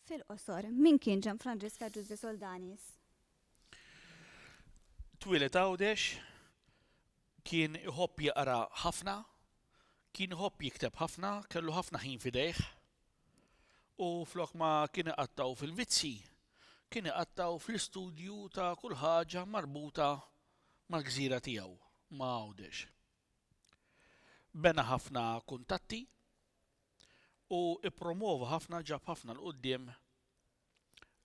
Fil-qosor, min kien Ġan Franġiska Ġużi Soldanis? Twilet għawdex, kien iħobb jaqra ħafna, kien iħobb jikteb ħafna, kellu ħafna ħin fidejh. U flok ma kien iqattgħu fil-vizzji, kien iqattgħu fl-istudju ta' kull ħaġa marbuta mal-gżira tiegħu, ma' Għawdex. Bena ħafna kuntatti u ppromwova ħafna, ġab ħafna 'l quddiem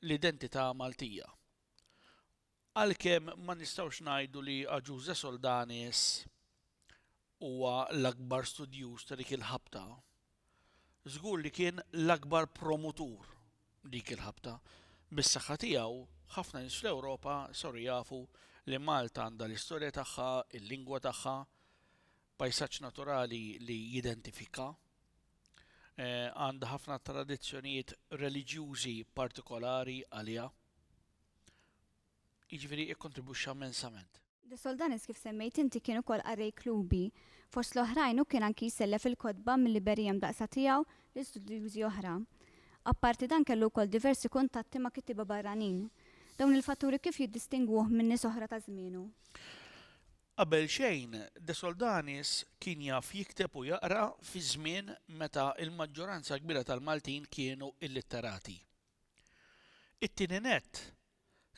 l-identità Maltija Għalkemm ma nistgħux ngħidu li Agiusa Soldanis huwa l-akbar studjuż ta' dik il-ħabta, żgur li kien l-akbar promutur dik il-ħabta. Bis-saħħa tiegħu, ħafna nies fl-Ewropa saru jafu li Malta għandha l-istorja tagħha, il-lingwa tagħha, pajsaġġ naturali li jidentifikha, għandha ħafna tradizzjonijiet reliġjużi partikolari għaliha. jiġifieri kkontribwixxa mmensament. De Soldanis kif semmejt inti kien ukoll qarrej klubi. Fost l-oħrajn hu kien anki jsellef il-kotba mil-librerija mdaqqsa tiegħu lil studjużi oħra. Apparti dan kellu wkoll diversi kuntatti ma' kittieba barranin. Dawn il-fatturi kif jiddistingwuh minn nies oħra ta' żmienu? Qabel xejn, de Soldanis kien jaf jikteb u jaqra fi żmien meta l-maġġoranza kbira tal-Maltin kienu illitterati. It-tieni nett,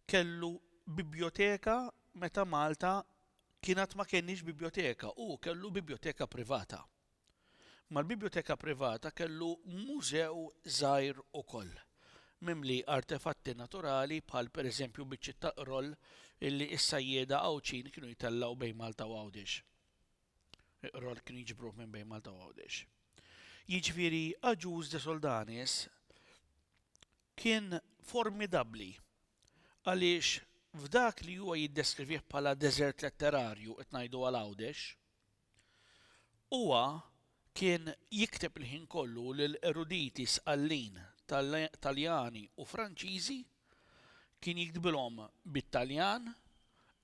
kellu bibjoteka meta Malta kien għad ma kenniex bibjoteka, hu kellu bibjoteka privata. Mal-bibjoteka privata kellu mużew żgħir ukoll, mimli artefatti naturali bħal pereżempju biċċiet ta' qroll illi s-sajjieda Għawdxin kienu jtellgħu bejn Malta u Għawdex. Iqra l-Kniġ b'ruħ minn bejn Malta u Għawdex. Jiġifieri Agius de Soldanis kien formidabbli għaliex f'dak li huwa jiddeskrivih bħala deżert letterarju qed ngħidu għal Għawdex, huwa Kien jikteb il-ħin kollu lil eruditi sqallin Taljani u Franċiżi, kien jiktbilhom bit-Taljan,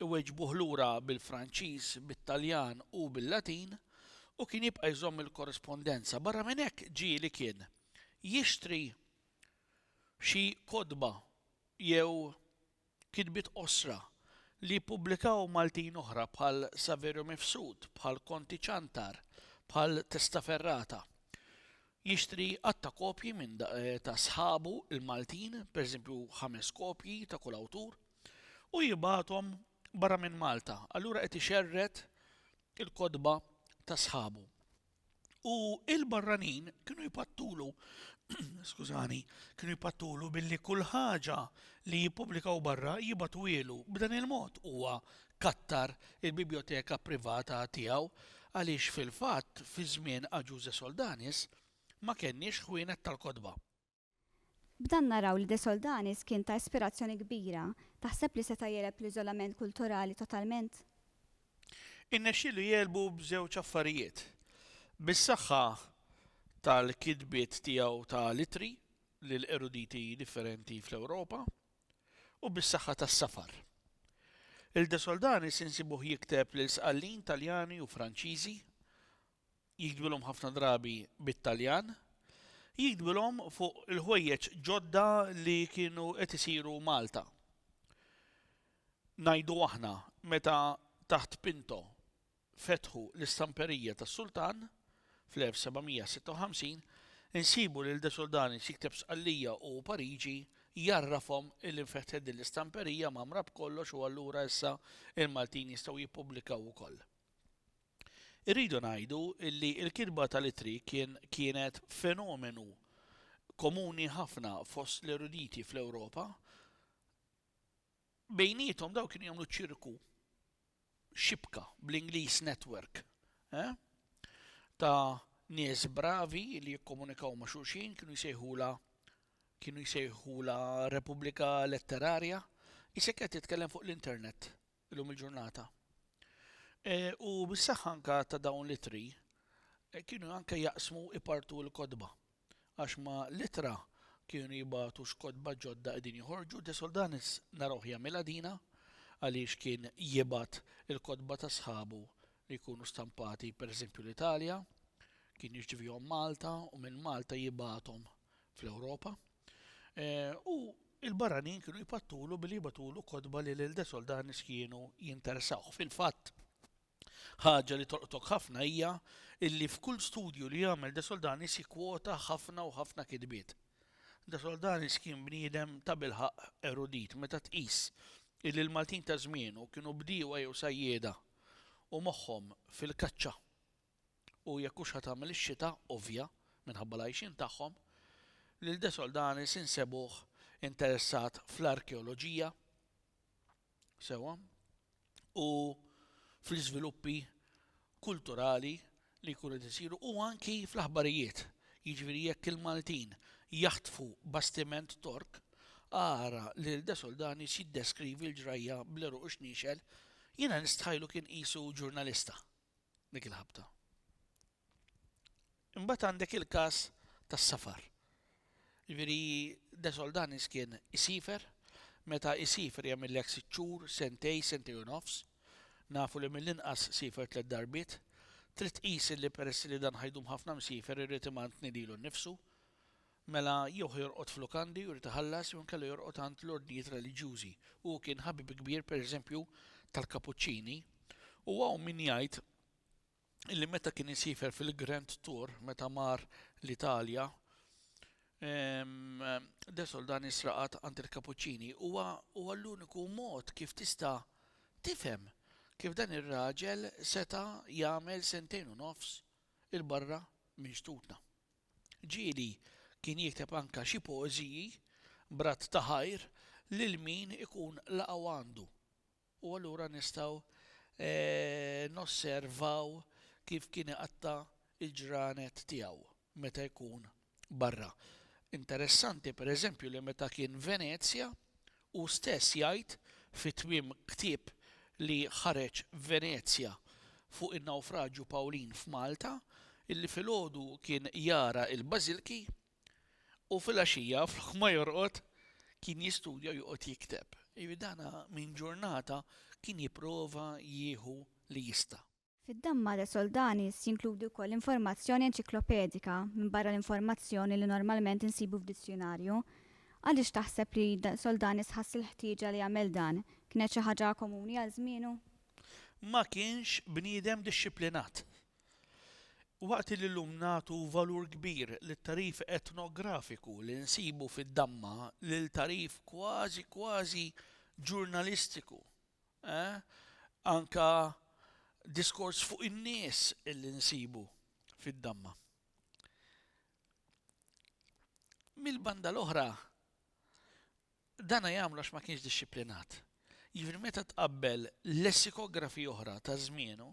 iweġbuh lura bil-Franċiż, bit-Taljan u bil-Latin, u kien jibqa' jżomm il-korrispondenza. Barra minn hekk ġieli kien jixtri xi kotba jew Kitbiet qosra, li jippubblikaw Maltin oħra bħal Saverio Mifsud, bħal Konti Ciantar, bħal Testaferrata. Jixtri għadd ta' kopji minn ta' sħabu l-Maltin, pereżempju ħames kopji ta' kull awtur, u jibgħathom barra minn Malta, allura qed ixerred il-kotba ta' sħabu. U il-barranin kienu jpattulu, skużani, kienu jpattulu billi kull ħaġa li jippubblikaw barra jibatuwielu. B'dan il-mod huwa kattar il-bibjoteka privata tiegħu għaliex fil-fatt fi żmien Agius de Soldanis ma kenniex ħwienet tal-kotba. B'dan naraw li De Soldanis kien ta' ispirazzjoni kbira. Taħseb li seta' jegħleb l-iżolament kulturali totalment? Irnexxielu jegħlbu b'żewġ affarijiet, bis-saħħa tal-kitbiet tiegħu ta' l-ittri lil eruditi differenti fl-Ewropa u bis-saħħa tas-safar. Lil De Soldanis insibuh jikteb lil sqallin Taljani u Franċiżi jiktbilhom ħafna drabi bit-Taljan, jiktbilhom fuq il-ħwejjeġ ġodda li kienu qed isiru Malta. Ngħidu aħna, meta taħt Pinto fetħu l-istamperija tas-Sultan fl-1756, insibu lil De Soldanis jikteb Sqallija u Pariġi jgħarrafhom li nfetħet din l-istamperija mgħammra b'kollox u allura issa l-Maltin jistgħu jippubblikaw ukoll. Irridu ngħidu li l-kitba tal-ittri kien kienet fenomenu komuni ħafna fost l-eruditi fl-Ewropa. Bejniethom dawn kienu jagħmlu ċirku, xibka, bl-Ingliż network, eh? ta' nies bravi li jikkomunikaw ma' xulxin kienu jsejħula kienu jsejħula Repubblika Letterarja, isek qed titkellem fuq l-internet illum il-ġurnata. E, u bis-saħħa anka ta' dawn l-itri e, kienu anke jaqsmu ipartu l-kodba. Għax ma l-itra kienu jibatu x'kodba ġodda qegħdin joħorġu, de Soldanis narawh jagħmilha dina għaliex kien jibat il-kodba ta' sħabu li jkunu stampati pereżempju l-Italja, kien jirċivihom Malta u minn Malta jibathom fl-Ewropa. U l-barranin kienu jpattulu billi jibgħatulu kotba li lil De Soldanis kienu jintersawh. Fil-fatt, ħaġa li tolqtok ħafna hija illi f'kull studju li jagħmel De Soldanis jikkwota ħafna u ħafna kitbiet. De Soldanis kien bniedem tabilħaqq erudit meta tqis illi l-Maltin ta' żmienu kienu bdiewa jew sajjieda u moħħhom fil-kaċċa. u jekk hux ħa tagħmel ix-xita ovvja minħabba l-għajxien tagħhom, lil De Soldanis insebuh interessat fl-arkeoloġija, sewwa, u fl-iżviluppi kulturali li jkunu qed isiru u anki fl-aħbarijiet, jiġifieri jekk il-Maltin jaħtfu bastiment Tork, ara lil De Soldanis jiddeskrivi l-ġrajja bl-għeruq ixniexel, jiena nistħajlu kien qisu ġurnalista. dik il-ħabta. Imbagħad għandek il-każ tas-safar. Jiġifieri De Soldanis kien isifer, meta isifer jagħmillek sitt xhur, sentej, sentej u nofs, nafu li mill-inqas sifer tliet darbiet, trid tqis li peress li dan ħajdum ħafna msifer irrid imantni lilu nnifsu, Mela jew ħa jorqod f'lukandi u jrid iħallas jew inkella jorqod għand l-ordnijiet reliġjużi. Hu kien ħabib kbir, per eżempju, tal-Kapuċċini u hawn min jgħid illi meta kien isiefer fil-Grand Tour, meta mar l-Italja, De Soldanis raqad għand il-Kapuċċini. Huwa huwa l-uniku mod kif tista' tifhem kif dan ir-raġel seta' jagħmel sentejn u nofs 'il barra minn xtutna. Ġieli kien jikteb anka xi poeżiji b'radd ta' ħajr lil min ikun laqgħu għandu. U allura nistgħu nosservaw kif kien iqatta' l-ġranet tiegħu meta jkun barra. Interessanti pereżempju li meta kien Venezja Hu stess jgħid fi tmiem ktieb li ħareġ f'Venezja fuq in-Nawfraġju Pawlin f'Malta illi filgħodu kien jara l-bażilki u filgħaxija flok ma jorqod kien jistudja u joqgħod jikteb. Jiġifieri dan minn ġurnata kien jipprova jieħu li jista'. Fid-damma ta' Soldanis jinkludi wkoll informazzjoni enċiklopedika minbarra l-informazzjoni li normalment insibu f'dizzjunarju. Għaliex taħseb li Soldanis ħass il-ħtieġa li jagħmel dan? Kienet xi ħaġa komuni għal żmienu? Ma kienx bniedem dixxiplinat. Waqt li llum nagħtu valur kbir lit-tagħrif etnografiku li nsibu fid-damma lil tagħrif kważi kważi ġurnalistiku Eh? Anka diskors fuq in-nies illi nsibu fid-damma. Mill-banda l-oħra, dana jagħmlu għax ma kienx dixxiplinat. Jiġifieri meta tqabbel lessikografi oħra ta' żmienu,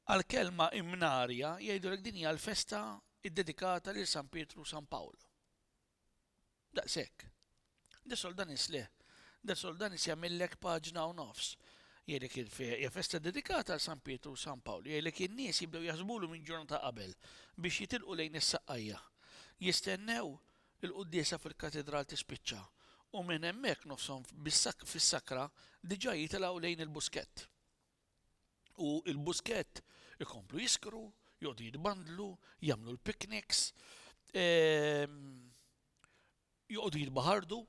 għal kelma imnarja jgħidulek din hija l-festa iddedikata lil San Pietru u San Pawl. Daqshekk. De Soldanis le. De Soldanis jagħmillek paġna u nofs. Jgħidlek hija festa dedikata għal San Pietru u San Pawl. Jgħidlek in-nies jibdew jaħsbulu minn ġurnata qabel biex jitilqu lejn is-Saqqajja. Jistennew il-quddiesa fil-Katidral tispiċċa u minn hemmhekk nofshom fis-sakra diġà jitilgħu lejn il-Buskett. u l-buskett ikomplu jiskru, joqogħdu jitbandlu, jagħmlu l-picnics, ehm, joqogħdu jitbaħardu,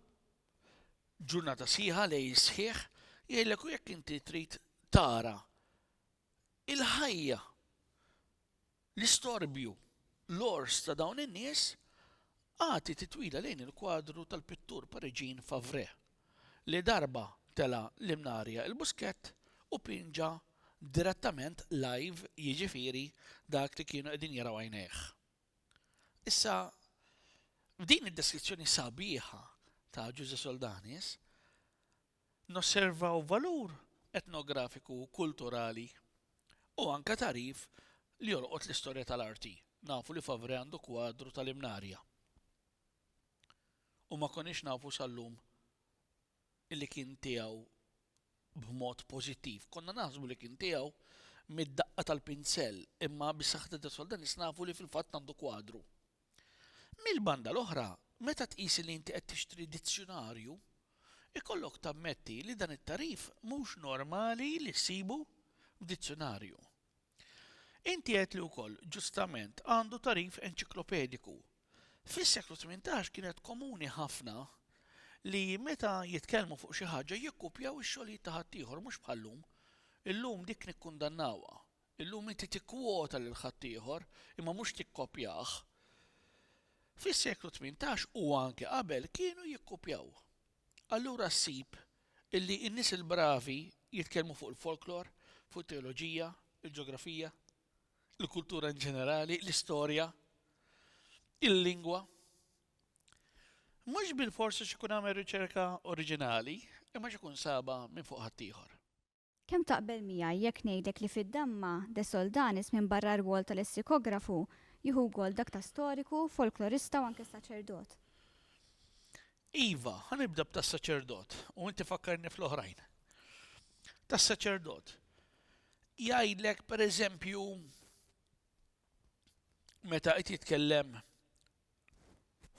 ġurnata sħiħa li jisħiħ, jgħidlek u jekk inti trid tara il-ħajja L-istorbju, l-għors ta' dawn in-nies agħti titwila lejn il-kwadru tal-pittur Pariġin Favre, li darba tela' l-imnarja il-buskett u pinġa direttament live jiġifieri dak li kienu qegħdin jaraw għajnejh. Issa, f'din id-deskrizzjoni sabiħa ta' Ġużè Soldanis, nosservaw valur etnografiku u kulturali u anke tagħrif li jolqot l-istorja tal-arti. Nafu li Favrè għandu kwadru tal-Imnarja u ma konniex nafu sal-lum li kien tiegħu b'mod pożittiv. Konna naħsbu li kien tiegħu mid-daqqa tal-pinsell imma bi saħħet id-dritts tal-Denis nafu li fil-fatt għandu kwadru. Mill-banda l-oħra, meta tqis li inti qed tixtri dizzjunarju, ikollok tammetti li dan it-tagħrif mhux normali li ssibu f'dizzjunarju. Inti għedt li wkoll, ġustament, għandu tagħrif enċiklopediku. Fis-seklu tmintax kienet komuni ħafna li meta jitkellmu fuq xi ħaġa jikkupjaw ix-xogħlijiet ta' ħaddieħor mhux bħal-lum. Illum dik nikkundannawha. Illum inti tikkwota lil ħaddieħor, imma mhux tikkopjah. Fis-seklu tmintax u anke qabel kienu jikkupjaw. Allura ssib illi n-nies il-bravi jitkellmu fuq il-folklor, fuq it-teoloġija, il-ġeografija, il-kultura in ġenerali, l-istorja, il-lingwa. Mhux bilfors għax ikun għamel riċerka oriġinali, imma għax ikun sabha minn fuq ħaddieħor. Kemm taqbel miegħi jekk ngħidlek li fid-damma De Soldanis minbarra r-rwol ta' lessikografu, jieħu wkoll dak ta' storiku, folklorista u anke saċerdot? Iva, ħa nibda b'tas-saċerdot u inti fakkarni fl-oħrajn. Tas-saċerdot, jgħidlek pereżempju meta qed jitkellem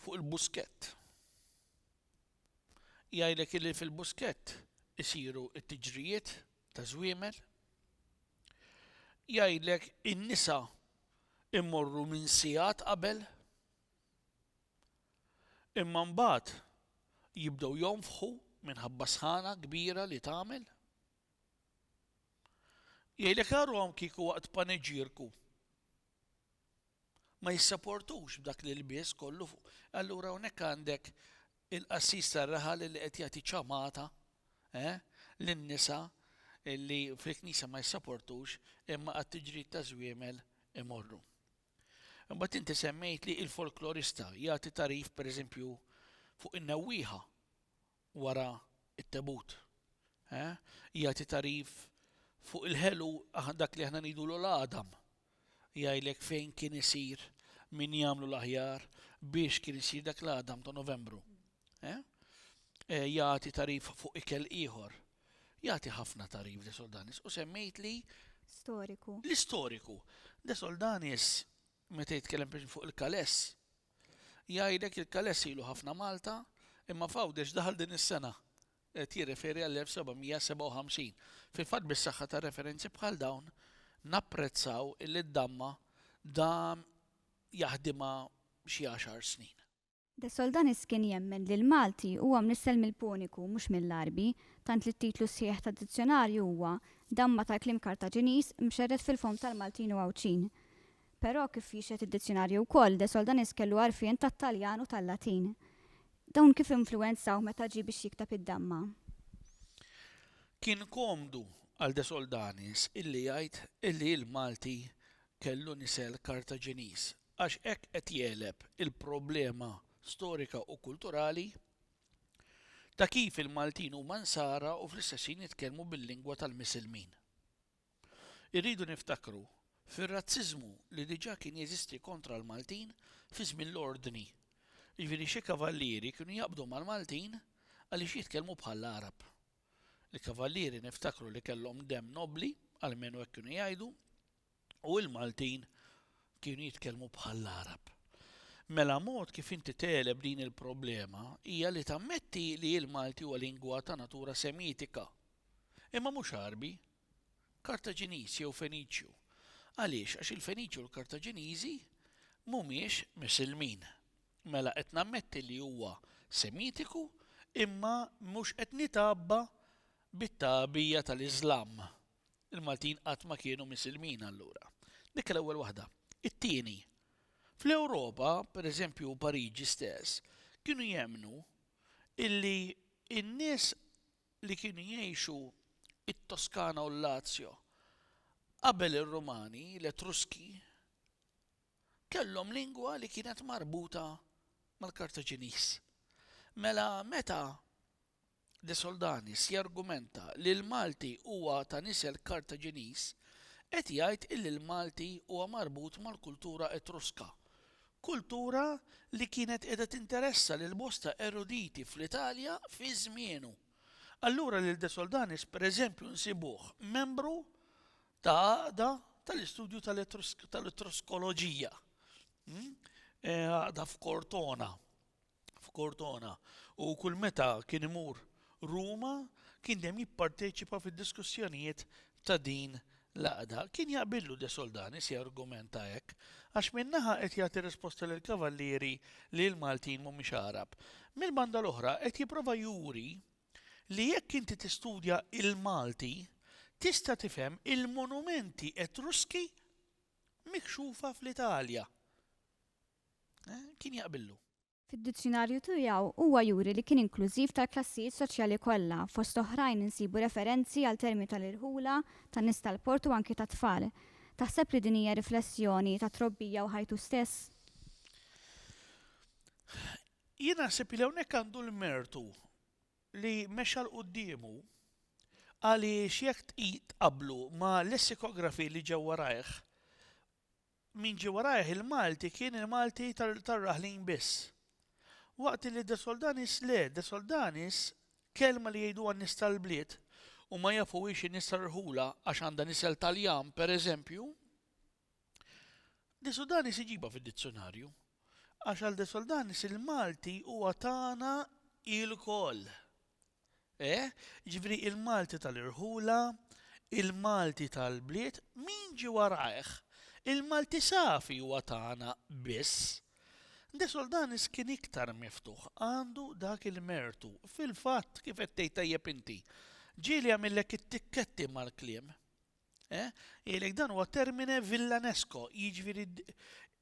fuq il-buskett. Jgħidlek illi fil-buskett isiru t-tiġrijiet ta' żwiemel. Jgħidlek in-nisa immorru minn sigħat qabel. Imma mbagħad jibdew jonfħu minħabba sħana kbira li tagħmel. Jgħidlek aruhom kieku waqt paniġierku. ma jissaportux b'dak l-ilbies kollu fuq, allura hawnhekk għandek il-qassis tar-raħal li qed jagħti ċamata, eh, lin-nisa li fil-knisja ma jissaportux imma għat-tiġrid taż-żwiemel imorru. Imbagħad inti semmejt li l-folklorista jagħti tagħrif pereżempju fuq in-newwieħa wara t-tebut. Jagħti tagħrif fuq il-ħelu dak li aħna ngħidulu l-għadam. Jgħidlek fejn kien isir, min jagħmlu l-aħjar biex kien isir dak l-għadam ta' Novembru. Jagħti tagħrif fuq ikel ieħor. Jagħti ħafna tagħrif De Soldanis u semmejt li Storiku. L-istoriku. De Soldanis meta jitkellem fuq il-kaless, Jgħidlek il-Kaless ilu ħafna Malta, imma f'Għawdex daħal din is-sena. Qed jirreferi għall-1757. Fil-fatt bis-saħħa ta' referenzi bħal dawn napprezzaw illi d-damma dam jaħdimha xi għaxar snin. De Soldanis kien jemmen li l-Malti huwa mnissel mill-Puniku mhux mill-Għarbi, tant li t-titlu sħiħ tad-dizzjonarju huwa, Damma tal-kliem Kartaġiniż mxerred fil-fomm tal-Maltin u Għawdxin. Però, kif jixhed id-dizzjunarju wkoll, De Soldanis kellu għarfien tat-Taljan u tal-Latin. Dawn kif influwenzawh meta ġie biex jikteb id-Damma? Kien komdu għal De Soldanis illi jgħid illi l-Malti kellu nisel Kartaġiniż għax hekk qed jegħleb il-problema storika u kulturali ta' kif il-Maltin huma nsara u fl-istess ħin jitkellmu bil-lingwa tal-Misilmin. Irridu niftakru fir-razziżmu li diġà kien jeżisti kontra l-Maltin fi żmien l-Ordni. Jiġifieri xi kavallieri kienu jaqbdu mal-Maltin għaliex jitkellmu bħall-Għarab. Il-kavallieri niftakru li kellhom demm nobbli, almenu hekk kienu jgħidu, u l-Maltin kienu jitkellmu bħall-Għarab. Mela mod kif inti tegħleb din il-problema hija li tammetti li l-Malti huwa lingwa ta' natura semitika, Imma mhux Għarbi. Kartaġiniż jew Feniċju. Għaliex? Għax il-Feniċi u l-Kartaġiniżi mhumiex Misilmin. Mela qed nammetti li huwa Semitiku imma mhux qed nitgħabba bit-tagħbija tal-Iżlam. Il-Maltin qatt ma kienu Misilmin allura. Dik l-ewwel waħda. It-tieni, fl-Ewropa, pereżempju Pariġi stess, kienu jemmnu illi n-nies li kienu jgħixu t-Toskana u l-Lazio qabel ir-Rumani, l-Etruski kellhom lingwa li kienet marbuta mal-Kartaġiniż. Mela meta De Soldanis jargumenta li l-Malti huwa ta' nisel Kartaġiniż, qed jgħid illi l-Malti huwa marbut mal-kultura Etruska Kultura li kienet qiegħda tinteressa lil bosta eruditi fl-Italja fi żmienu. Allura lil De Soldanis pereżempju nsibuh membru ta' għaqda tal-istudju tal-Etruskoloġija, għaqda f'Cortona. f'Cortona u kull meta kien imur Ruma kien dejjem jipparteċipa fid-diskussjonijiet ta' din l-għaqda. Kien jaqbillu de Soldanis jargumenta hekk, għax minn naħa qed jagħti risposta lill-Kavallieri li l-Maltin mhumiex Għarab, mill-banda l-oħra qed jipprova juri li jekk inti tistudja l-Malti tista' tifhem il-monumenti Etruski mikxufa fl-Italja. kien jaqbillu. Fid-dizzjunarju tiegħu huwa juri li kien inklużiv tal-klassijiet soċjali kollha, fost oħrajn insibu referenzi għal terminu tal-irħula, tan-nies tal-port u anki tat-tfal. Taħseb li din hija riflessjoni ta' trobbija u ħajtu stess? Jien naħseb li hawnhekk għandu l-mertu li mexa 'l quddiemu għaliex jekk tqablu ma' lessikografi li ġew warajh Min ġie warajh il-Malti kien il-Malti tar-raħlin biss. Waqt li De Soldanis le, De Soldanis kelma li jgħiduha n-nies tal-bliet u ma jafuhiex in-nies tar-rħula għax għandha nisel Taljan pereżempju, De Sudanis iġibha fid-dizzjunarju. Għax għal De Soldanis il-Malti huwa tagħna ilkoll. E, jiġifieri il-Malti tal-irħula, il-Malti tal-bliet, min ġie warajh? Il-Malti safi huwa tagħna biss. De Soldanis kien iktar miftuħ, għandu dak il-mertu. Fil-fatt, kif qed tgħid tajjeb inti, ġieli għamillek it-tikketti mal-kliem. E, jgħidlek dan huwa termine villanesco, jiġifieri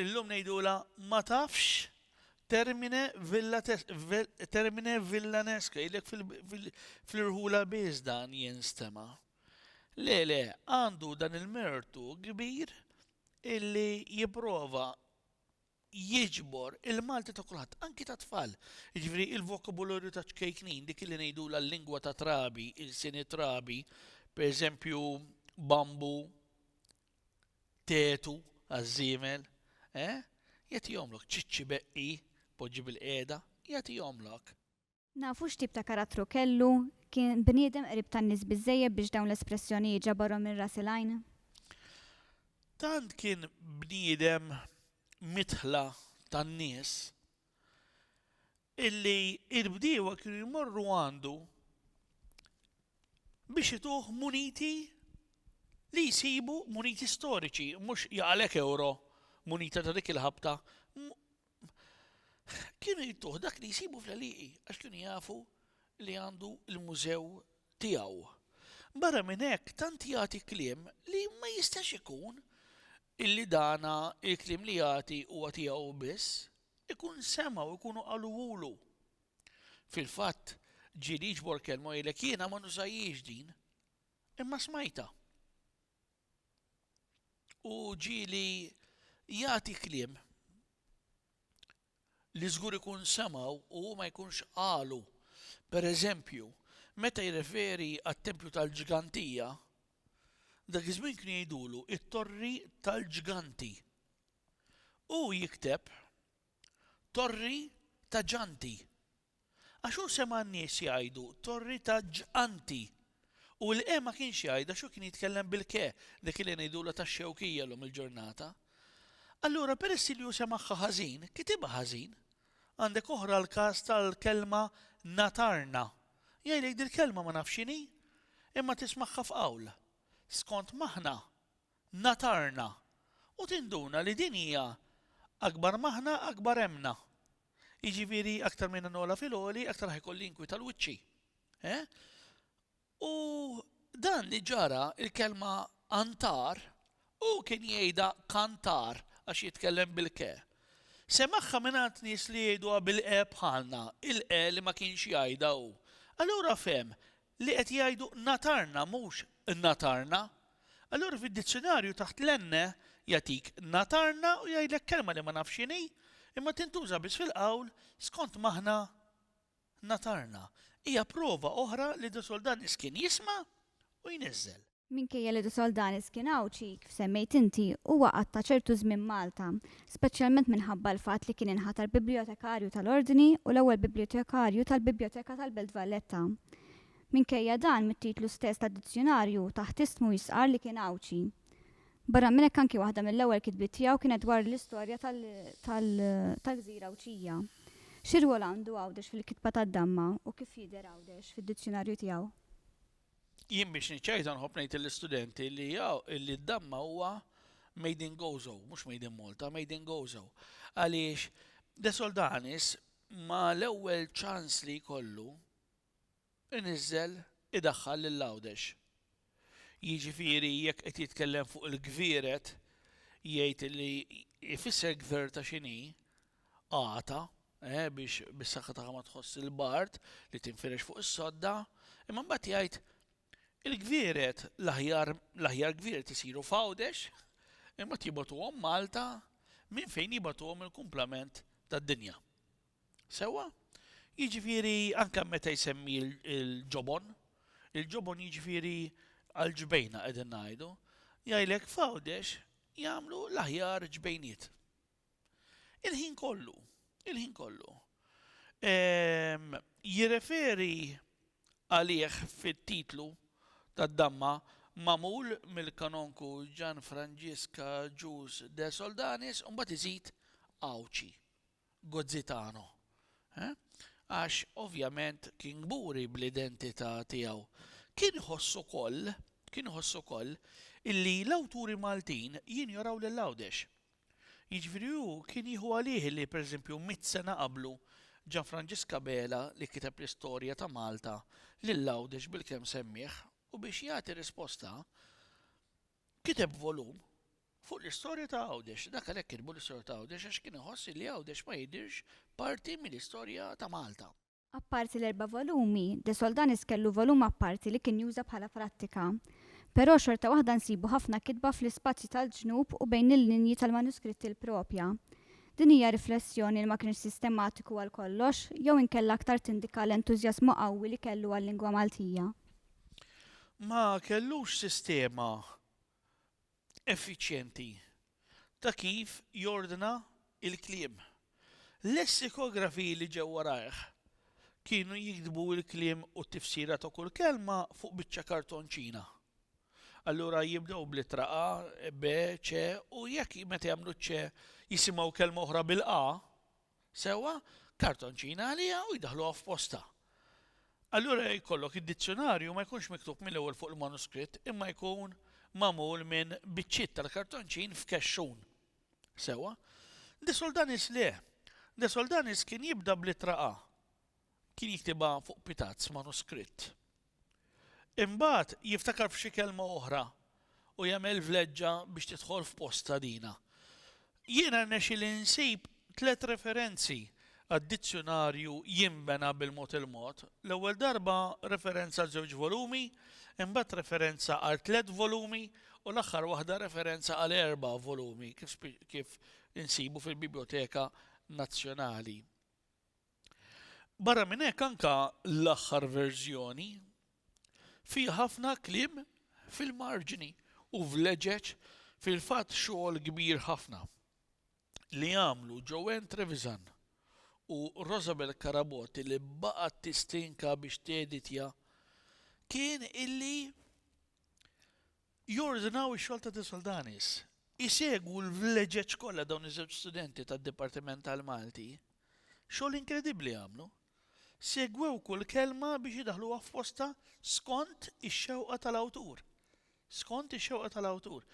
Illum ngħidulha ma tafx termine termine villanesque, jgħidlek fl-irħula biss dan jinstema. Le, le, għandu dan il-mertu kbir illi jipprova jiġbor il-Malti ta' kulħadd, anki ta' tfal. Jiġifieri il-vokabularju ta' ċkejknin, dik li ngħidulha l-lingwa ta' trabi, il-sini trabi, pereżempju bambu, tetu għaż-żiemel, eh? Jagħtihomlok, ċiċċi beqqi, poġġi bilqiegħda, jagħtihomlok. Nafu x'tip ta' karattru kellu? Kien bniedem qrib tan-nies biżżejjed biex dawn l-espressjonijiet ġabarhom minn ras il-għajn? Tant kien bniedem midħla tan-nies illi l-bdiewa kienu jmorru għandu biex ituh muniti li jsibu, muniti storiċi, mhux jaqalek ewro, munita ta' dik il-ħabta, kienu jittuh dak li jsibu fl-għalieqi għax kienu jafu li għandu l-mużew tiegħu. Barra minn hekk tant jagħti kliem li ma jistax ikun illi dana il-kliem li jagħti huwa tiegħu hu biss, ikun sema' u jkunu qaluhulu. Fil-fatt, ġieli jiġbor kelma u jgħidlek jiena ma nużajhiex din, imma smajtha. U ġieli jagħti kliem li żgur ikun semgħu u hu ma jkunx qalu. Per eżempju, meta jirreferi għat-tempju tal-ġgantija, dak iż-żmien kienu jgħidulu t-torri tal-ġganti. Hu jikteb torri ta' ġanti. Għax hu sema' n-nies jgħidu, Torri ta' ġganti! U l-ke ma kienx jgħidha għax hu kien jitkellem bil-ke, dik li ngħidulha tax-Xewkija llum il-ġurnata. Allura peress li hu semagħha ħażin, kitibha ħażin. Għandek oħra l-każ tal-kelma natarna. Jgħidlek dil-kelma ma nafx x'inhi, imma tismagħha f'qawl. Skont maħna, natarna. U tinduna li din hija akbar maħna akbar hemmna. Jiġifieri aktar minn nogħla fil-għoli, aktar ħajkolli jinkwita l-wiċċi. Eh? U dan li ġara il-kelma antar u kien jgħidha kantar għax jitkellem bil-ke. Semaħħa mingħand nies li jgħiduha bil-qe bħalna, il-qe li ma kienx jgħidha hu. Allura fem li qed jgħidu natarna mhux ngħatarna. Allura fid-dizzjunarju taħt l-enne jagħtik ngħatarna u jgħidlek kelma li ma nafx x'inhi, imma tintuża biss fil-qawl skont m'aħna ngħatarna. Hija prova oħra li De Soldanis kien jisma' u jniżżel. Minkejja li De Soldanis kien Għawdxi, kif semmejt inti, huwa qatta' ċertu żmien Malta, speċjalment minħabba l-fatt li kien inħatar Bibbljotekarju tal-Ordni u l-ewwel Bibbljotekarju tal-Bibbljoteca tal-Belt Valletta. Minkejja dan, mit-titlu stess tad-dizzjunarju, taħt ismu jistqarr li kien Għawdxi. Barra minn hekk anki waħda mill-ewwel kitbiet tiegħu kienet dwar l-istorja tal-gżira Għawdxija. Xi rwol għandu Għawdex fil-kitba tad-damma u kif jidher Għawdex fid-dizzjunarju tiegħu? Jien biex niċċajta nħobb ngħid lill-istudenti li li d-damma huwa made in Gozo, mhux made in Malta, made in Gozo. Għaliex De Soldanis ma l-ewwel ċans li jkollu iniżżel idaħħal lil Għawdex. Jiġifieri jekk qed jitkellem fuq il-gvieret jgħid li jfisser gvir ta' x'inhi, Għata, eh, biex bis-saħħa tagħha ma tħoss il-bard li tinfirex fuq is-sodda, imma mbagħad jgħid, Il-gvieret, l-aħjar, l-aħjar gvieret isiru f'Għawdex, imbagħad jibgħatuhom Malta minn fejn jibgħatuhom il-kumplament tad-dinja. Sewwa? Jiġifieri anke meta jsemmi l-ġobon, il-ġobon jiġifieri għall-ġbejna qegħdin ngħidu, jgħidlek f'Għawdex jagħmlu l-aħjar ġbejniet. Il-ħin kollu, il-ħin kollu. Ehm, jirreferi għalih fit-titlu tad-damma magħmul mill-kanonku Gian Franġiska Ġus de Soldanis u mbagħad iżid Għawdxi, Gozzitano. Eh? Għax ovvjament kien gburi bl-identità tiegħu. Kien ħossu koll, kien ħossu koll illi l-awturi Maltin jinjoraw lil Għawdex. Jiġifieri hu kien jieħu għalih li, pereżempju, mitt sena qablu, Ġanfranġisk Abela, li kiteb l-istorja ta' Malta, lil Għawdex bilkemm semmieh u biex jagħti risposta, kiteb volum fuq l-istorja ta' Għawdex. Dak għalhekk kitbu l-istorja ta' Għawdex għax kien iħoss illi Għawdex ma jidhirx parti mill-istorja ta' Malta. Apparti l-erba' volumi, De Soldanis kellu volum apparti li kien juża bħala prattika. Però xorta waħda nsibu ħafna kitba fl-ispazju tal-ġnub u bejn il-linji tal-manuskritti l-proprja. Din hija riflessjoni li ma kienx sistematiku għal kollox jew inkella aktar tindika l-entużjażmu qawwi li kellu għal-lingwa Maltija? Ma kellux sistema effiċjenti ta' kif jordna l-kliem. Lessikografji li ġew warajh kienu jiktbu l-kliem u t-tifsira ta' kull kelma fuq biċċa kartonċina. Allura jibdew bl-ittra A, B, C u jekk meta jagħmlu ċ-C jisimgħu kelma oħra bil-A, Sewwa, kartonċina għaliha u jdaħħluha f'postha. Allura jkollok id-dizzjunarju ma jkunx miktub mill-ewwel fuq il-manuskritt imma jkun magħmul minn biċċiet tal-kartonċin f'kexxun. Sewwa. De Soldanis le. De Soldanis kien jibda bl-ittra A. Kien jiktibha fuq pitazz manuskritt. Imbagħad jiftakar f'xi kelma oħra u jagħmel vleġġa biex tidħol f'postha dina. Jiena rnexxieli nsib tliet referenzi għad-dizzjunarju Jinbena bil-Mod il-Mod, l-ewwel darba referenza għal żewġ volumi, imbagħad referenza għal tliet volumi u l-aħħar waħda referenza għal erba' volumi kif insibu fil-Bibljoteka Nazzjonali. Barra minn hekk anke l-aħħar verżjoni fiha ħafna kliem fil-marġni u vleġeġ fil-fatt xogħol kbir ħafna li għamlu Joanne Trevisan u Rosabel Carabotti li baqgħet tistinka biex teeditja kien illi Jordnaw ix-xogħol ta' Disol Danis. Isegwu l-vleġeġ kollha dawn iż-żewġ studenti tad-Dipartiment tal-Malti. Xogħol inkredibbli għamlu. Segwew kull kelma biex idaħħluha f'postha skont ix-xewqa tal-awtur. Skont ix-xewqa tal-awtur.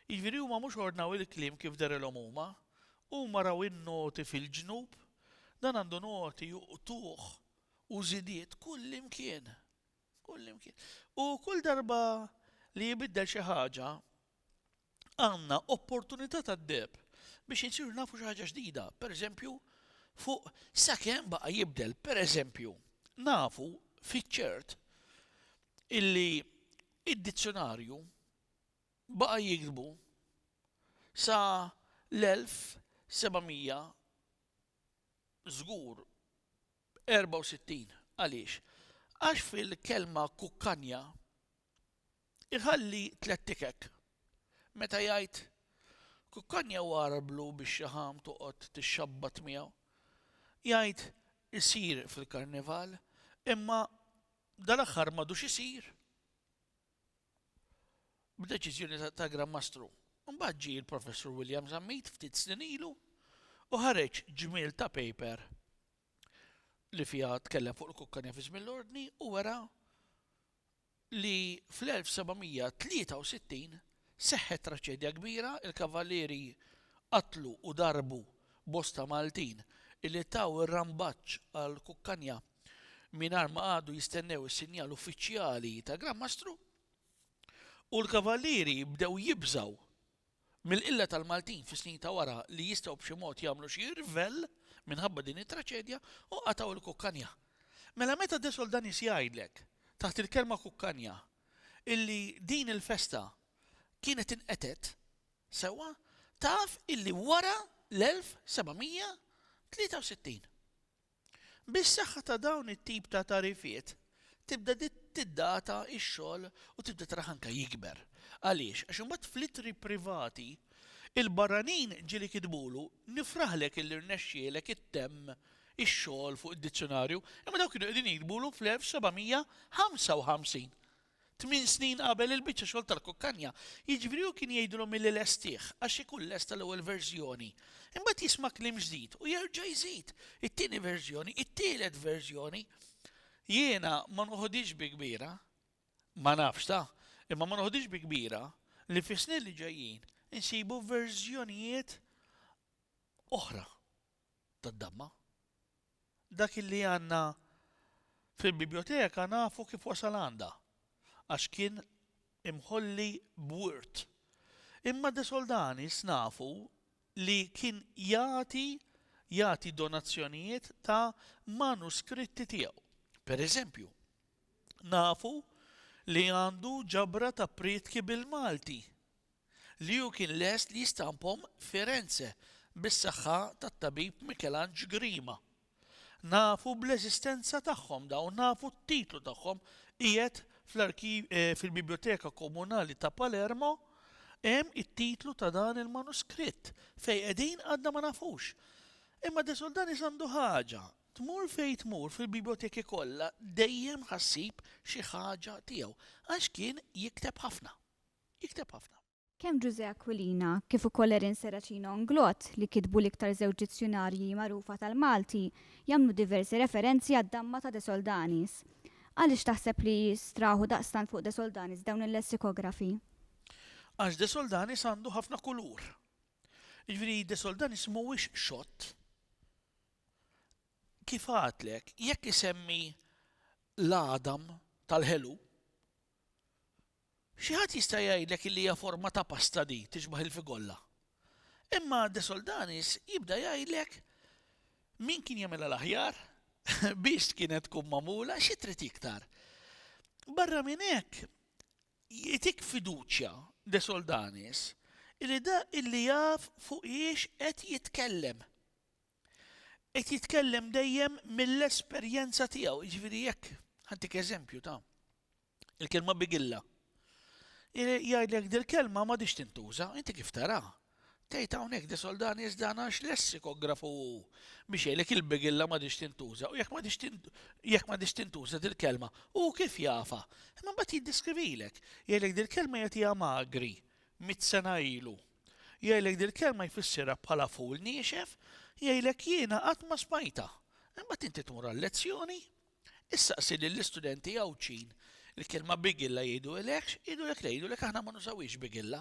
Jiġifieri huma mhux ordnaw il-kliem kif derilhom huma. Huma raw in-noti fil-ġnub. Dan għandu noti u qtugħ u żidiet kullimkien. F'kull imkien. U kull darba li jibiddel xi ħaġa, għandna opportunità tad-deheb biex insiru nafu xi ħaġa ġdida, pereżempju, fuq sakemm baqa' jibdel. Pereżempju, nafu fiċ-ċert illi d-dizzjonarju baqa' jiktbu sa l-1700 Żgur. 64 Għaliex? Għax fil-kelma kukkanja iħalli tliet tikek. Meta jgħid kukkanja u għararblu bix-xaħam toqgħod tixxabbat miegħu. Jgħid isir fil-Karnival imma dal-aħħar m'għadux isir. b'deċiżjoni ta' Gran Mastru. Imbagħad ġie l-Professur William Zammit ftit snin ilu u ħareġ ġmiel ta' paper li fiha tkellem fuq il-kukka nefiż mill-ordni u wera li fl-1763 seħħet traċedja kbira, il-kavallieri qatlu u darbu bosta Maltin illi taw ir-rambaġġ għall-kukkanja. mingħajr ma qagħdu jistennew is-sinjal uffiċjali ta' Gran Mastru, u l-Kavallieri bdew jibżgħu mill-qilla tal-Maltin fis-snin ta' wara li jistgħu b'xi mod jagħmlu xi irvell minħabba din it-traċedja u qatgħu l-kukkanja. Mela meta De Soldanis jgħidlek taħt il-kelma kukkanja illi din il-festa kienet inqetgħet sewwa, taf illi wara l-1763. Bis-saħħa ta' dawn it-tip ta' tagħrifiet tibda tiddata x-xogħol u tibda taraħ anke jikber. Għaliex? Għax imbagħad fl-ittri privati il-barranin ġieli kitbulu, Nifraħlek illi rnexxielek ittemm ix-xogħol fuq id-dizzjunarju, imma dawn kienu qegħdin jiktbulu fl-1755. Tmien snin qabel il-biċċa xogħol tal-kukkanja, jiġifieri hu kien jgħidilhom illi lestih, għax ikun lesta l-ewwel verżjoni. Imbagħad jisma' kliem ġdid u jerġa' jżid, it-tieni verżjoni, it-tielet verżjoni. Jiena ma noħodhiex bi kbira, ma nafx ta', imma ma noħodhiex bi kbira li fis-snin li ġejjin insibu verżjonijiet oħra tad-damma. Dak illi għandna fil-bibljoteka nafu kif wasal għandha, għax kien imħolli b'wirt. Imma De Soldanis nafu li kien jagħti jagħti donazzjonijiet ta' manuskritti tiegħu. Per eżempju, nafu li għandu ġabra ta' prietki bil-Malti. li hu kien lest li jistampahom f'Firenze bis-saħħa tat-tabib Mikelanġ Grima. Nafu bl-eżistenza tagħhom dawn, nafu t-titlu tagħhom qiegħed fil-Bibljoteka Komunali ta' Palermo hemm it-titlu ta' dan il-manuskritt. Fejn qegħdin għadna ma nafux. Imma De Soldanis għandu ħaġa, tmur fejn tmur fil-bibljoteki kollha dejjem ħa ssib xi ħaġa tiegħu, għax kien jikteb ħafna. Jikteb ħafna. Kemm Ġużè Aquilina kif ukoll Erin Serracino Inglott, li kitbu l-iktar żewġ dizzjunarji magħrufa tal-Malti, jagħmlu diversi referenzi għad-damma ta' De Soldanis. Għaliex taħseb li straħu daqstant fuq De Soldanis dawn il-lessikografi? Għax De Soldanis għandu ħafna kulur. Jiġifieri De Soldanis mhuwiex xott. Kif għadtlek, jekk isemmi l-għadam tal-ħelu, Xi ħadd jista' jgħidlek illi hija forma ta' pasta di, tixbaħ il-figolla. Imma De Soldanis jibda jgħidlek min kien jagħmilha l-aħjar, biex kienet tkun magħmula, xi trid iktar. Barra minn hekk, jtik fiduċja De Soldanis illi dak illi jaf fuqhiex qed jitkellem. Qed jitkellem dejjem mill-esperjenza tiegħu, jiġifieri jekk ħantik eżempju ta' il-kelma bigilla. Jgħidlek dil-kelma ma dix tintuża, inti kif tara? Tgħid hawnhekk di soldani iżda għax lessikografu hu biex jgħidlek il-bigilla ma dix tintuża u jekk ma dix tintuża dil-kelma hu kif jafa. Imma mbagħad jiddiskrivilek, jgħidlek dil-kelma jagħtiha magri mit sena ilu. Jgħidlek dil-kelma jfissirha bħala ful niexef, jgħidlek jiena qatt ma smajtha. Imbagħad inti tmur għal-lezzjoni, issaqsi lill-istudenti Għawdxin il-kelma bigilla jgħidulekx, jgħidulek le, jgħidulek aħna ma nużawhiex bigilla.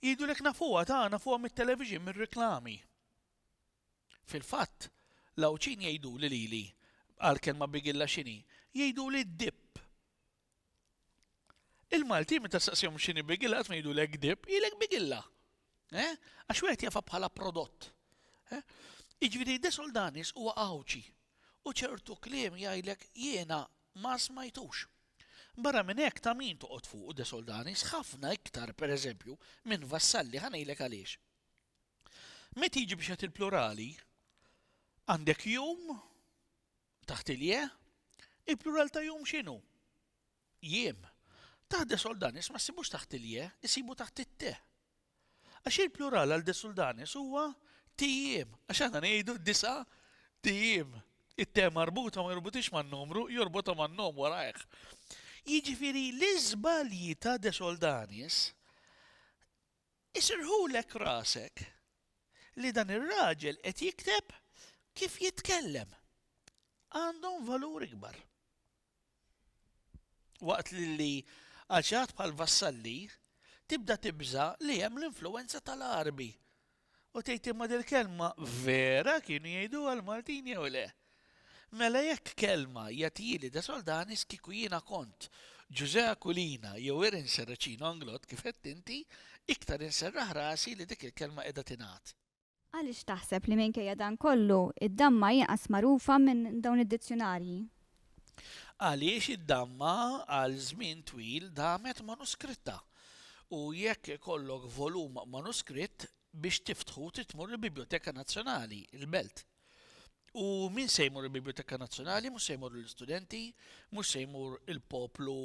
Jgħidulek nafuha ta' nafuha mit-television, mir-reklami. Fil-fatt, l-Għawdxin jgħiduli lili għal kelma bigilla x'inhi, jgħiduli d-dipp. Il-Maltin meta staqsihom x'inhi bigilla qatt ma jgħidulek kdib, jgħidlek bigilla. Eh? Għax wieħed jafha bħala prodott. Eh? Jiġifieri De Soldanis huwa Għawdxi u ċertu kliem jgħidlek jiena ma smajtux. Barra minn hekk ta' min toqgħod fuq De Soldanis ħafna iktar pereżempju minn Vassalli ħa ngħidlek għaliex. Meta jiġi biex qed il-plurali għandek jum Taħt il-je, il-plural ta' jum x'inhu? Jiem. Taħt de soldanis ma ssibux taħt il-je, issibu taħt it-te. Għax il-plural għal de soldanis huwa tijiem, għax aħna ngħidu disa' tijiem. It-te marbuta ma jorbutix man-numru, jorbota man-nom warajh. Jiġifieri l-iżbalji ta' de soldanis Isirħulek rasek li dan ir-raġel qed jikteb kif jitkellem. Għandhom valur ikbar. Waqt li għal xi ħadd bħal Vassalli tibda tibża' li hemm l-influwenza tal-Għarbi u tgħid imma dil-kelma vera kienu jgħiduha l-Maltin jew le? Mela jekk kelma jagħtili De Soldanis kieku jiena kont Ġużè Aquilina jew Erin Serracino Anglott kif għedt inti, iktar inserraħ rasi li dik il-kelma qiegħda tingħad. Għaliex taħseb li minkejja dan kollu, id-damma inqas magħrufa minn dawn id-dizzjunarji? Għaliex id-damma għal żmien twil damet manuskritta, u jekk ikollok volum manuskritt, biex tiftħu trid tmur il-Bibljoteka Nazzjonali, il-Belt. U min se jmur il-Biblioteka Nazzjonali, mhux se jmur l-istudenti, mhux se jmur il-poplu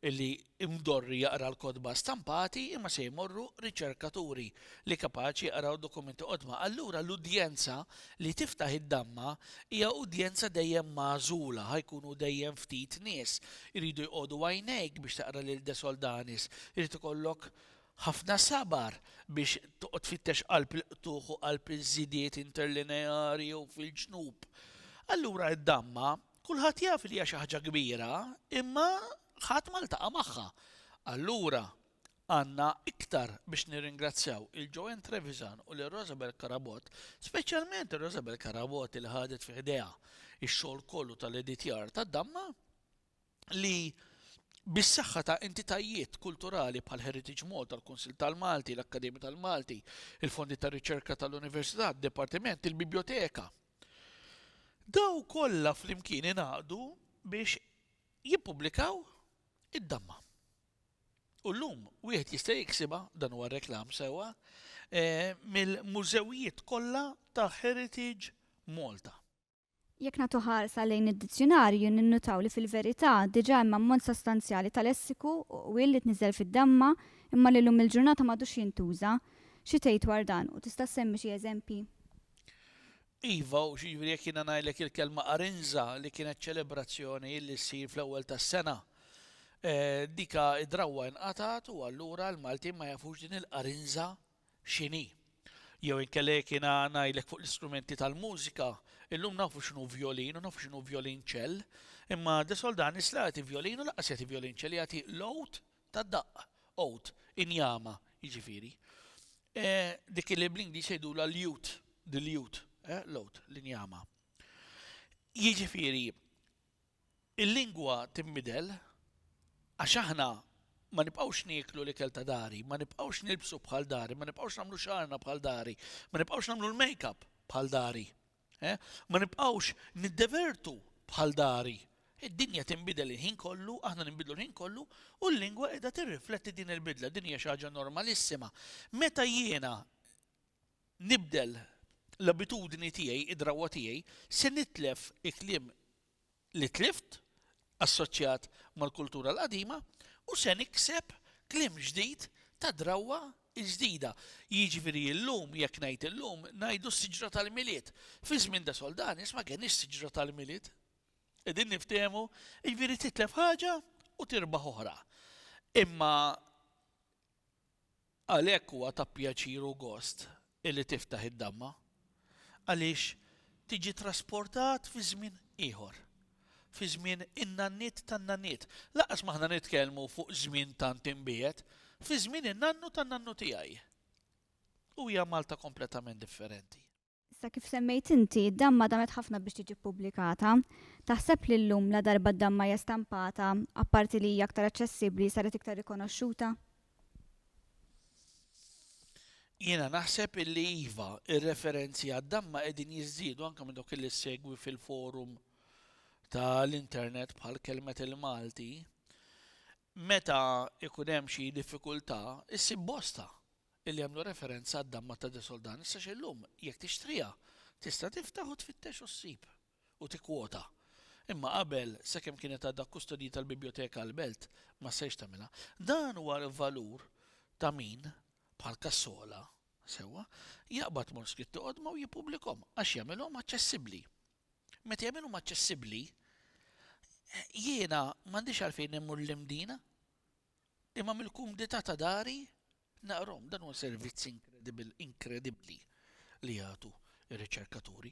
li imdorri jaqra l-kodba stampati, imma se jmorru riċerkaturi li kapaċi jaqraw dokumenti qodma. Allura l-udjenza li tiftaħ id-damma hija udjenza dejjem magħżula, ħajkunu dejjem ftit nies. Iridu jqogħdu għajnejk biex taqra lil De Soldanis, irid ikollok Ħafna sabar biex toqgħod tfittex qalb il-qtugħ u qalb iż-żidiet interlineari jew fil-ġnub. Allura d-damma, kulħadd jaf li hija xi ħaġa kbira, imma ħadd ma ltaqa' magħha. Allura, għandna iktar biex nirringrazzjaw lil Joanne Trevisan u lil Rosabel Carabott, speċjalment lil Rosabel Carabott li ħadet fi ħdejha x-xogħol kollu tal-editjar tad-damma, li bis-saħħa ta' entitajiet kulturali bħal Heritage Malta, l-Kunsill tal-Malti, l-Akkademja tal-Malti, il-Fondi ta' Riċerka tal-Università, d-Dipartiment, il-Bibljoteka. Daw kollha flimkien ingħaqdu biex jippubblikaw id-damma. U llum wieħed jista' jiksibha dan huwa reklam sewwa eh, mill-mużewijiet kollha ta' Heritage Malta. Jekk nagħtu ħarsa lejn id-dizzjunarju ninnutaw li fil-verità diġà hemm ammont sostanzjali ta' lessiku u qwiel li tniżżel fid-damma imma li llum il-ġurnata m'għadux jintuża. Xi tgħid dwar dan u tista' ssemmi xi eżempji? Iva, u x'jiġri jekk jiena ngħidlek il-kelma qarinża li kienet ċelebrazzjoni li ssir fl-ewwel tas-sena. Dika d-drawwa inqatgħet u allura l-Maltin ma jafux din il-qarinża x'inhi. Jew inkella jekk jiena ngħidlek fuq l-istrumenti tal-mużika, illum nafu x'inhu vjolin u nafu x'inhu vjolinċell, imma De Soldanis la jagħti vjolin u lanqas jagħti vjolinċell, jagħti l-għud tad-daqq, oud, injama, jiġifieri. Dik li bl-Ingliż jgħidulha l-lute, the lute, l-għud, l-injama. Jiġifieri, Il-lingwa tinbidel għax aħna ma nibqgħux nieklu l-ikel ta' dari, ma nibqgħux nilbsu bħal dari, ma nibqgħux nagħmlu xagħarna bħal dari, ma nibqgħux nagħmlu l-makeup bħal dari, ma nibqgħux niddevertu bħal dari. Id-dinja tinbidel il-ħin kollu, aħna ninbidlu l-ħin kollu, u l-lingwa qiegħda tirrifletti din il-bidla, din hija xi ħaġa normalissima. Meta jiena nibdel l-abitudni tiegħi, id-drawwa tiegħi, se nitlef il-kliem li tlift assoċjat mal-kultura l-qadima u se nikseb kliem ġdid ta' drawwa ġdida. Jiġifieri illum, jekk ngħid illum, ngħidu s-siġra tal-Milied. Fi żmien de Soldanis ma kenniex siġra tal-Milied. Qegħdin niftehmu? Jiġifieri titlef ħaġa u tirbaħ oħra. Imma Għalhekk huwa ta' pjaċir u gost illi tiftaħ id-damma, għaliex tiġi trasportat fi żmien ieħor, fi żmien in-nanniet tan-nanniet, lanqas ma aħna nitkellmu fuq żmien tant imbiegħed, fi żmien in-nannu tan-nannu tiegħi. U hija Malta kompletament differenti. Issa kif semmejt inti, d-damma damet ħafna biex tiġi ppubblikata. Taħseb li llum la darba d-damma hija stampata, apparti li hija aktar aċċessibbli, saret iktar rikonoxxuta? Jiena naħseb illi iva, ir-referenzi għad-damma qegħdin jiżdiedu anke minn dawk li segwi fil-forum tal-internet bħal kelmet il-Malti. Meta ikun hemm xi diffikultà, issib bosta li jagħmlu referenza għad-damma ta' De Soldan, issa xi llum, jekk tixtriha, tista' tiftaħ u tfittex u ssib, u tikkwota. Imma qabel, sakemm kienet għadha kkustodjita l-Bibjoteka għall-Belt, ma stajtx tagħmilha. Dan huwa l-valur ta' min, bħal Cassola, sewwa, jaqbad manuskritti qodma u jippubblikhom, għax jagħmilhom aċċessibbli. Meta jagħmilhom aċċessibbli, jiena m'għandix għalfejn immur l-imdina. Imma mill-kumdità ta' dari naqrahom. Dan huwa servizz inkredibbli li jagħtu r-riċerkaturi.